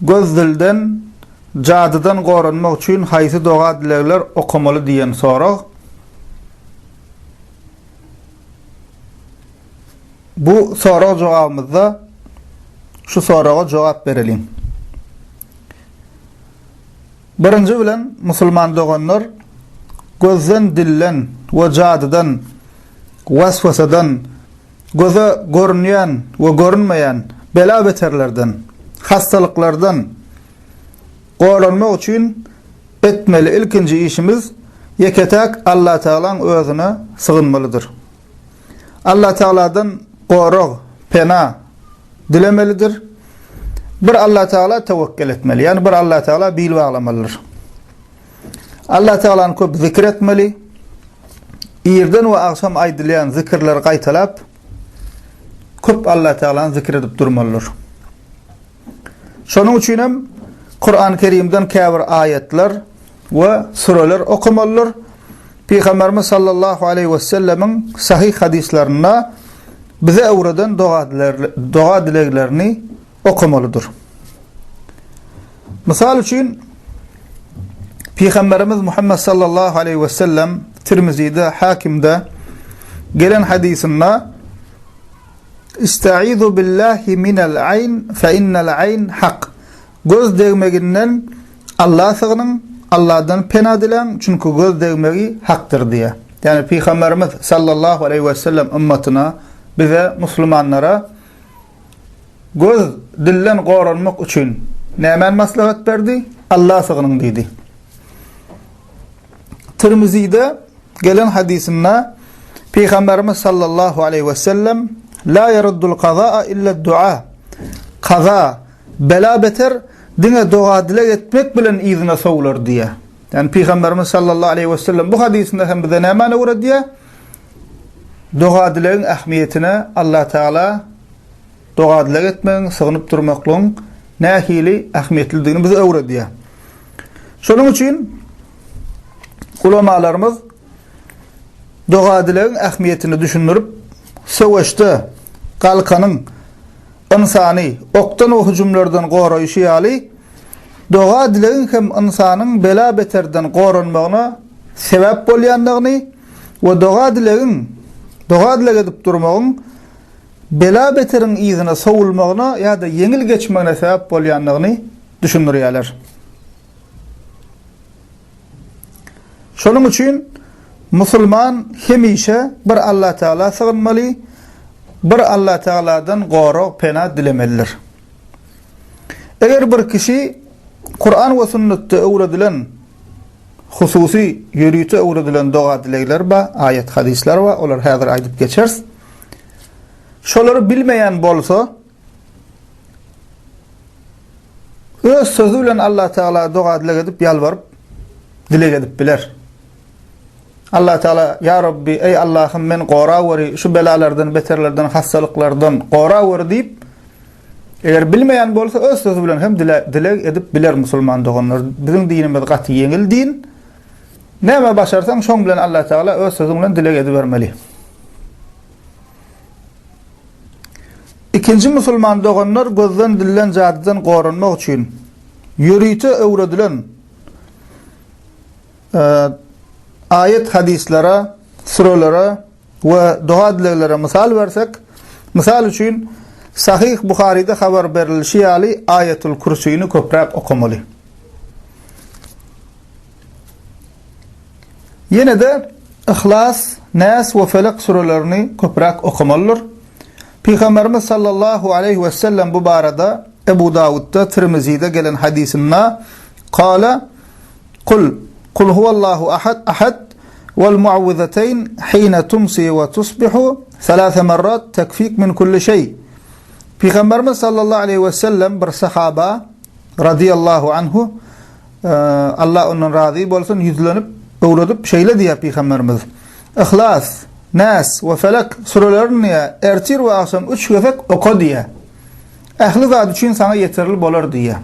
Göz-dilden, jadydan goranmak üçin haýsy doga-dilegler okamaly diýen sorag Bu sorag jogabymyzda şu soraga jogap bereliň. Birinji bilen, musulman doganlar, gözden, dilden we jadydan, weswesadan, göze görünýän we görünmeýän bela-beterlerden, hassalyklardan goranmak üçin etmeli ilkinji işimiz ýeke-täk Allatagalaň Özüne sygynmalydyr. Allah Tagaladan gorag, pena dilemelidir. Bir Allah Tagala tawakkel etmeli. Yani bir Allah Tagala bil baglamalydyr. Allah Tagalany köp zikir etmeli. Irden we agşam aýdylýan zikirleri gaýtalap köp Allah Tagalany zikir edip durmalydyr. Şonuň üçin hem Kurany Kerimden käbir aýatlar we süreler okamalydyr. Pygamberimiz sallallahu aleýhi we sellemiň sahyh hadyslarynda bize öwreden doga dileglerini okamalydyr. Mysal üçin Pygamberimiz Muhammed sallallahu aleýhi we sellem Tirmizide, Hakimde gelen hadysynda Ista'izu billahi minel ayn fe innel ayn hak, Göz degmeginden Alla sygnyň, Alladan pena diläň, çünki göz degmegi hakdyr diýýär. Ýagny Pygamberimiz sallallahu aleýhi we sellem ymmatyna, bize muslumanlara göz dilden goranmak üçin nämäni maslahat berdi? Alla sygnyň diýdi. Tirmizide gelen hadysynda Pygamberimiz sallallahu aleýhi we sellem la yaruddul qazaa illa dua. Kaza, bela beter diňe doga dileg etmek bilen yzyna sowlar diýe. Yani Pygamberimiz sallallahu aleýhi we sellem bu hadysynda hem bize näme öwredýär? Doga dilegiň ähmiýetine Allah Taala Doga-dileg etmegiň, sygynyp durmaklygyň nähili ähmiýetlidigini bize öwredýär. Şonuň üçin ulamalarymyz doga-dilegiň ähmiýetini düşündirip, söweşde galkanyň ynsany okdan we hüjümlerden goraýşy ýaly, doga-dilegiň hem ynsanyň bela-beterden goranmagyna sebäp bolýandygyny we doga-dilegiň, doga-dileg edip durmagyň, bela-beteriň yzyna sowulmagyna ýa-da ýeňil geçmegine sebäp bolýandygyny düşündirýärler. Şonuň üçin musulman hemişe bir Allatagala sygynmaly, bir Allatagaladan gorag, pena dilemelidir. Eger bir kişi Kuran we sünnetde öwredilen hususy ýörite öwredilen doga-dilegler bar, aýat-hadyslar bar, olary häzir aýdyp geçeris. Şolary bilmeýän bolsa, öz sözi bilen Allah Teala doga dileg edip ýalbaryp dileg edip biler. Allah Teala ya Rabbi ey Allahym men gora weri şu belalardan beterlerden hassalyklardan gora weri diýip eger bilmeýän bolsa öz sözi bilen hem dileg edip biler musulman doganlar. Biziň dinimiz gaty ýeňil din. Näme başarsaň, şoň bilen Allatagala öz sözüň bilen dileg edibermeli. Ikinji musulman doganlar gözden dilden jadydan goranmak üçin ýörite öwredilen aýat-hadislere, sürelere we doga-dileglere mysal bersek, mysal üçin, Sahyh Buharyda habar berilişi ýaly Aýatul Kürsini köpräk okamaly. Ýene-de Yhlas, Näs we Felek sürelerini köpräk okamalydyr. Pygamberimiz sallallahu aleýhi we sellem bu barada Ebu Dawudda, Tirmizide gelen hadysynda, Kâle, Kul, Kul huwallahu ahad, Ahad, wal muawwizateyn hine tumsi wa tusbihu salasa marrat tekfik min kulli şeý. Pygamberimiz sallallahu aleýhi we sellem bir sahaba radiyallahu anhu Allah ondan razy bolsun ýüzlenip öwredip şeýle diýýär pygamberimiz. Ihlas, Nas we Felek sürelerini ertir we agşam üç gezek oka diýýär. Ähli zat üçin saňa ýeterli bolar diýýär.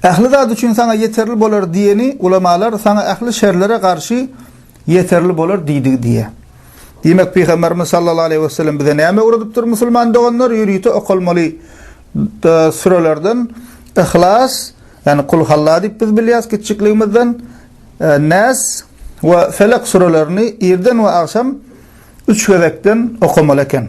Ähli zat üçin saňa ýeterli bolar diýeni ulamalar saňa ähli şerlere garşy ýeterli bolar diýdigi diýýär. Diýmek, Pygamberimiz sallallahu aleýhi we sellem bize näme öwredipdir musulman doganlar? Ýörite okalmaly sürelerden Ihlas, ýagny Kul halla diýip biz bilýäs kiçjikligimizden, e, Nas we Felek sürelerini irden we agşam üç gezekden okamaly eken.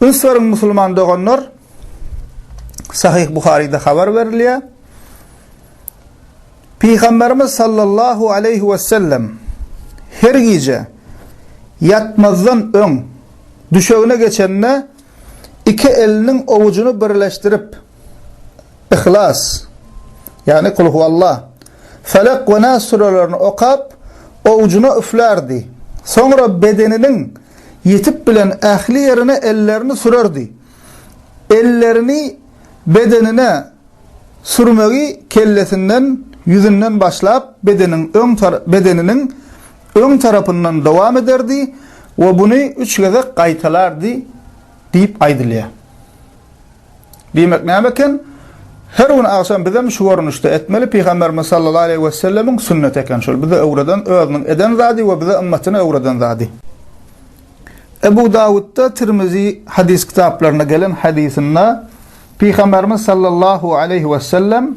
Ösüberiň musulman doganlar. Sahyh Buharyda habar berilýär. Pygamberimiz sallallahu aleyhi ve sellem her gije yatmazdan ön düşegine geçende iki elinin ovucunu birleştirip Yhlas, ýagny Kul huwalla, Felek we Nas sürelerini okap, owjuna üflärdi. Soňra bedeniniň ýetip bilen ähli ýerine ellerini sürerdi. Ellerini bedenine sürmegi kellesinden, ýüzünden başlap, bedeniniň öň tarapyndan dowam ederdi we buny üç gezek gaýtalardy diýip aýdylýar. Diýmek näme eken? Her gün agşam bizem şu görnüşde etmeli, Pygamberimiz sallallahu aleýhi we sellemiň sünneti eken şol, bize öwreden, özüniň eden zady we bize ymmatyna öwreden zady. Ebu Dawudda, Tirmizi hadys kitaplarynda gelen hadysynda Pygamberimiz sallallahu aleýhi we sellem,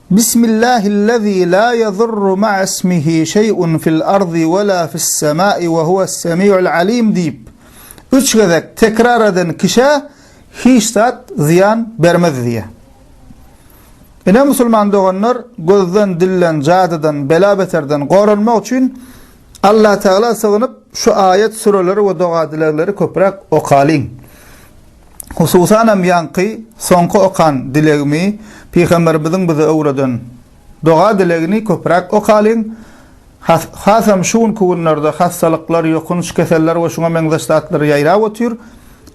Bismillahillezî lâ yezurru ma'asmihî şey'un fil ardi ve lâ fissemâi ve huves-semî'ul alîm diýip, üç gezek tekrar eden kişä hiç zat zyýan bermez diýýär. Ine, musulman doganlar, gözden, dilden, jadydan, bela-beterden goranmak üçin Allatagala sygynyp, şu aýat-süreleri we doga-dilegleri köpräk okalyň. Hususanam ýaňky soňky okan dilegimi Pygamberimiziň bize öwreden doga dilegini köpräk okalyň has hasam şu günki günlerde hassalyklar ýokunç keseller we şuňa meňzeş zatlar ýaýrap otyr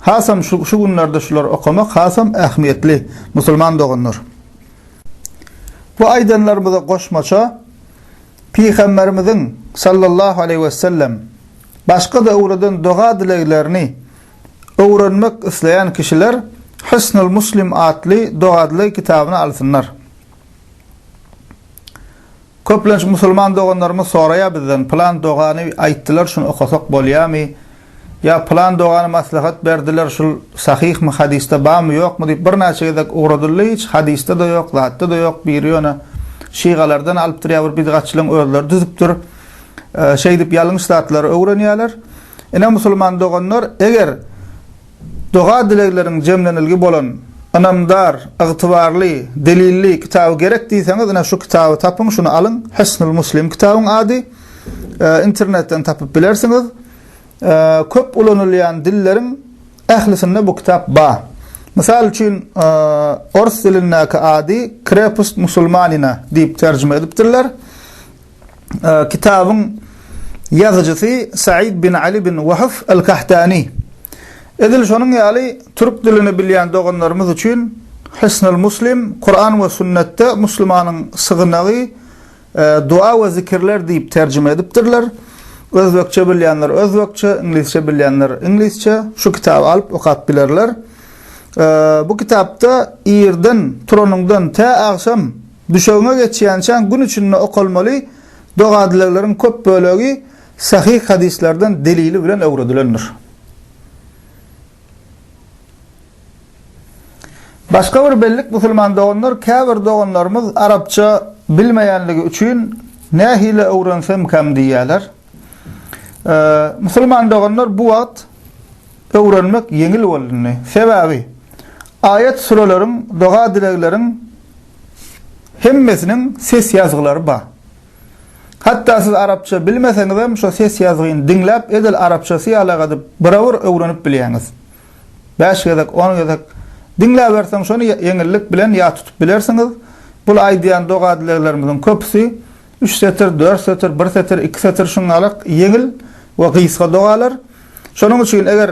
hasam şu şu günlerde şular okamak hasam ähmiýetli musulman doganlar. Bu aýdanlarymyza goşmaça Pygamberimiziň sallallahu aleýhi wesellem başga-da öwreden doga dileglerini öwrenmek isleýän kişiler Hisnul Muslim atly dogadly kitabyny alsynlar. Köplenç musulman doganlarymyz soraýar bizden, pylan dogany aýtdylar şuny okasak bolýamy? Ýa pylan dogany maslahat berdiler şul sahyhmy hadysda bamy ýokmy diýip birnäçe gezek ugradyldy hiç hadysda-da ýok zatda-da ýok biri ýöne şygalardan alypdyr ýa bir bidgatçylaryň özleri düzüpdir şeýdip ýalňyş zatlary öwrenýärler. Ine musulman doganlar, eger doga-dilegleriň jemlenilgi bolan, ynamdar, ygtybarly, delilli kitaby gerek diýseňiz, ine şu kitaby tapyň, şuny alyň, Hysnul Muslim kitabyň ady, internetden tapyp bilersiňiz. Köp ulanylýan dilleriň ählisinde bu kitap ba. Mysal üçin, ors dilindäki ady Krepust musulmanina diýip terjime edipdirler. kitabyň ýazyjysy Said bin Ali bin Wahf al-Kahtani. Edil şonuň ýaly türk dilini bilýän doganlarymyz üçin Hisnul Muslim, Kuran we sünnetde musulmanyň sygynagy, Dua we zikirler diýip terjime edipdirler. Özbekçe bilýänler özbekçe, iňlisçe bilýänler iňlisçe şu kitaby alyp okap bilerler. Bu kitapda irden turanyňdan tä agşam Düşegime geçýänçäň gün içinde okalmaly doga-dilegleriň köp bölegi sahyh hadyslardan delili bilen öwredilendir. Başga bir bellik musulman doganlar käbir doganlarymyz arapça bilmeýänligi üçin nähili öwrensemkäm diýýärler. Musulman doganlar bu wagt öwrenmek ýeňil bolundy. Sebäbi, aýat-süreleriň, doga-dilegleriň hemmesiniň ses ýazgylary bar. Hatda siz arapça bilmeseňizem, şo ses ýazgyny diňläp, edil arapçasy ýalak edip, bir-bir öwrenip bilýäňiz. Bäş gezek, on gezek diňläberseň, şony ýeňillik bilen ýat tutup bilersiňiz. Bul aýdýan doga-dileglerimiziň köpüsi üç setir, dört setir, bir setir, iki setir şuňňalak ýeňil we gysga dogalar. Şonuň üçin eger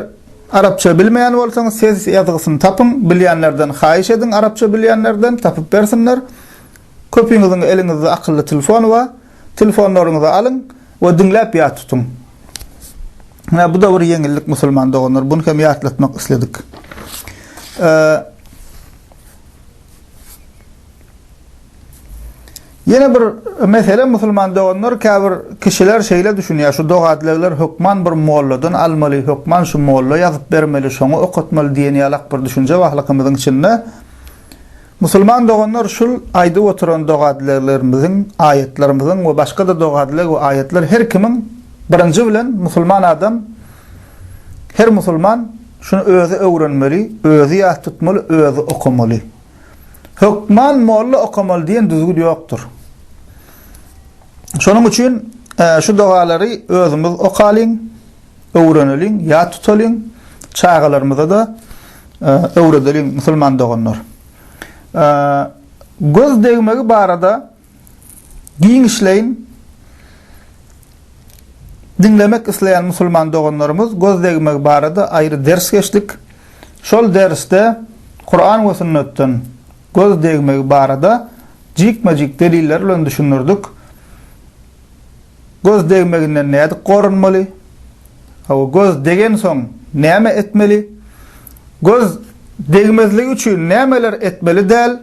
arapça bilmeýän bolsaňyz ses ýazgysyny tapyň, bilýänlerden haýyş ediň arapça bilýänlerden tapyp bersinler. Köpiňiziň eliňizde akylly telefon bar, telefonlaryňyzy alyň we diňläp ýat tutuň. Hä bu-da bir ýeňillik musulman doganlar, buny hem ýatlatmak isledik. Ýene bir mesele musulman doganlar käbir kişiler şeýle düşünýär şu dogadlegler hökman bir molladan almaly hökman şu molla ýazyp bermeli şoňa okatmaly diýen ýalak bir düşünje ba halkymyzyň içinde musulman doganlar şul aýdyp oturan dogadleglerimiziň aýatlarymyzyň we başgada dogadleg we aýatlar her kimiň birinji bilen musulman adam her musulman şuny özi öwrenmeli özi ýat tutmaly özi okamaly. Hökman molla okamaly diýen düzgün ýokdur. Şonuň üçin şu dogalary özümiz okalyň, öwreneliň, ýat tutalyň, çagalarymyza-da öwredeliň musulman doganlar. Göz degmegi barada Giňişleýin diňlemek isleýän musulman doganlarymyz göz degmegi barada aýry ders geçdik. Şol dersde Kuran we sünnetden göz degmegi barada jikme-jik deliller bilen düşündirdik. Göz degmeginden nädip gorunmaly? Hawa, göz degensoň näme etmeli? Göz degmezligi üçin nämeler etmeli däl?